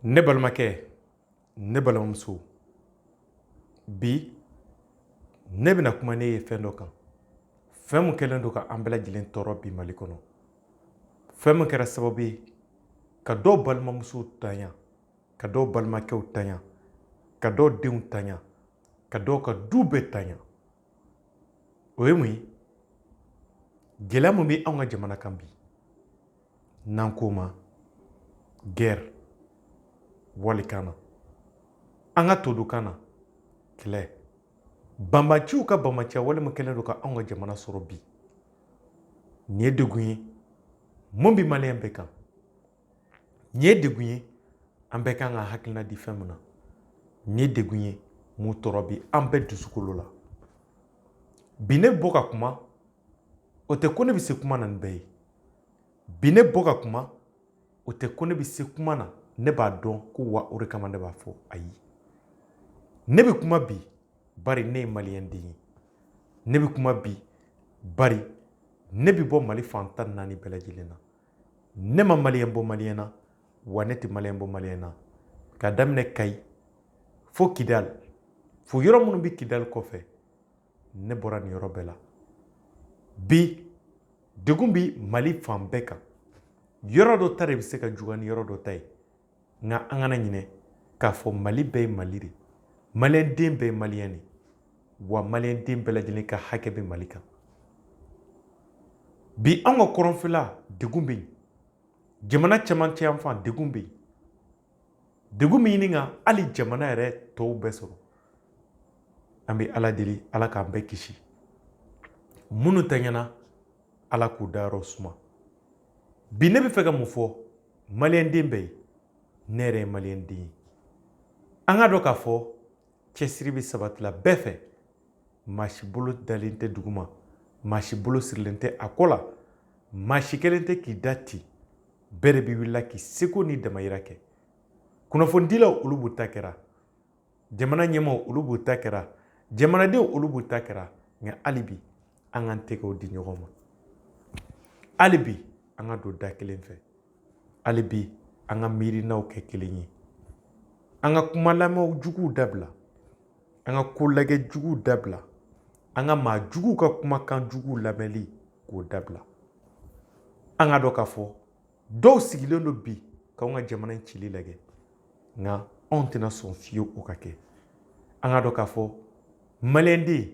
ne balimakɛ ne balimamuso bi ne bɛna kuma ne ye fɛn dɔ kan fɛn min kɛlen don ka an bɛɛ lajɛlen tɔɔrɔ bi mali kɔnɔ fɛn min kɛra sababu ye ka dɔw balimamusow tanya ka dɔw balimakɛw tanya ka dɔw denw tanya ka dɔw ka du bɛɛ tanya o ye mun ye gɛlɛya min bɛ anw ka jamana kan bi n'an k'o ma gɛrɛ walikan na an ka todukan na kɛlɛ banbaanciw ka banbaanciya wale min kɛlen don ka anw ka jamana sɔrɔ bi nin ye degun ye min bɛ maliyɛn bɛɛ kan nin ye degun ye an bɛɛ kan ka hakilina di fɛn min na nin ye degun ye min tɔɔrɔ bɛ an bɛɛ dusukolo la bi ne bɔ ka kuma o tɛ ko ne bɛ se kuma na ni bɛɛ ye bi ne bɔ ka kuma o tɛ ko ne bɛ se kuma na ne b'a dɔn ko wa o de kama ne b'a fɔ ayi ne bɛ kuma bi bari ne ye maliyɛnden ye ne bɛ kuma bi bari ne bɛ bɔ mali fan tan ni naani bɛɛ lajɛlen na ne ma maliyɛn bɔ maliyɛn na wa ne tɛ maliyɛn bɔ maliyɛn na ka daminɛ kayi fo kidali fo yɔrɔ minnu bɛ kidali kɔfɛ ne bɔra nin yɔrɔ bɛɛ la bi degun bɛ mali fan bɛɛ kan yɔrɔ dɔ ta de bɛ se ka juguya ni yɔrɔ dɔ ta ye nka an kana ɲinɛ k'a fɔ mali bɛɛ ye mali de maliyɛnden bɛɛ ye maliyɛn de wa maliyɛnden bɛɛ lajɛlen ka hakɛ bɛ mali kan bi an ka kɔrɔnfɛla degun bɛ yen jamana cɛmancɛ yanfan degun bɛ yen degun min ɲini ka hali jamana yɛrɛ tɔw bɛɛ sɔrɔ an bɛ ala deli ala k'an bɛɛ kisi minnu tanyana ala k'u dayɔrɔ suma bi ne bɛ fɛ ka mun fɔ maliyɛnden bɛɛ ye ne yɛrɛ ye maliyɛnden ye an k'a dɔn k'a fɔ cɛsiri bɛ sabatila bɛɛ fɛ maa si bolo dalen tɛ duguma maa si bolo sirilen tɛ a kɔ la maa si kɛlen tɛ k'i da ten bɛɛ de bɛ wulila k'i seko ni damayira kɛ kunnafonidilaw olu b'u ta kɛra jamana ɲɛmaaw olu b'u ta kɛra jamanadenw olu b'u ta kɛra nka hali bi an k'an tɛgɛw di ɲɔgɔn ma hali bi an ka don da kelen fɛ hali bi an ka miirinaw kɛ kelen ye an ka kuma lamɛn juguw dabila an ka ko lajɛ juguw dabila an ka maa juguw ka kumakan juguw lamɛnli k'o dabila an k'a dɔn k'a fɔ dɔw sigilen don bi k'anw ka jamana in cili lajɛ nka anw tɛna sɔn fiyewu o ka kɛ an k'a dɔn k'a fɔ maliyɛnden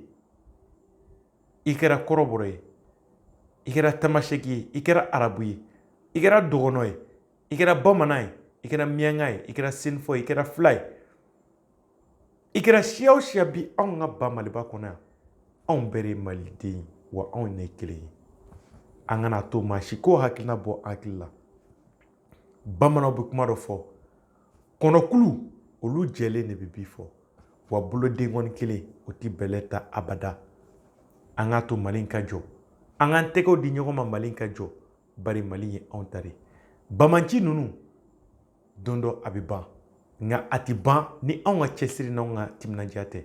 i kɛra kɔrɔbɔrɔ ye i kɛra tamaseki ye i kɛra arabu ye i kɛra dɔgɔnɔ ye i kɛra bamanan ye i kɛra miyanka ye i kɛra senufɔ ye i kɛra fila ye i kɛra siya o siya bi anw ka ba maliba kɔnɔ yan anw bɛɛ de ye maliden ye wa anw de ye kelen ye an kana to maa si k'o hakilina bɔ an hakili la bamananw bɛ kuma dɔ fɔ kɔnɔkulu olu jɛlen de bɛ bi fɔ wa bolodenkɔni kelen o tɛ bɛlɛ ta abada an k'a to mali ka jɔ an k'an tɛgɛw di ɲɔgɔn ma mali ka jɔ bari mali ye anw ta de banbaanci ninnu don dɔ a bɛ ban nka a tɛ ban ni anw ka cɛsiri n' anw ka timinandiya tɛ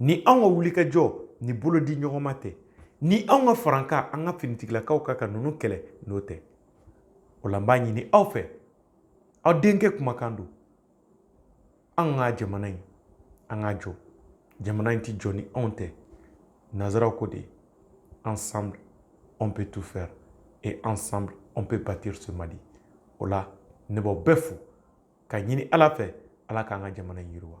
ni anw ka wulikajɔ ni bolodiɲɔgɔnma tɛ ni anw ka farankan an ka finitigilakaw kan ka ninnu kɛlɛ n'o tɛ o la n b'a ɲini aw fɛ aw denkɛ kumakan don an ka jamana in an k'a jɔ jamana in ti jɔ ni anw tɛ nanzaraw ko de ensemble on peut tout faire et ensemble on peut bâtir ce Mali o la ne b'aw bɛɛ fo k'a ɲini ala fɛ ala k'an ka jamana in yiriwa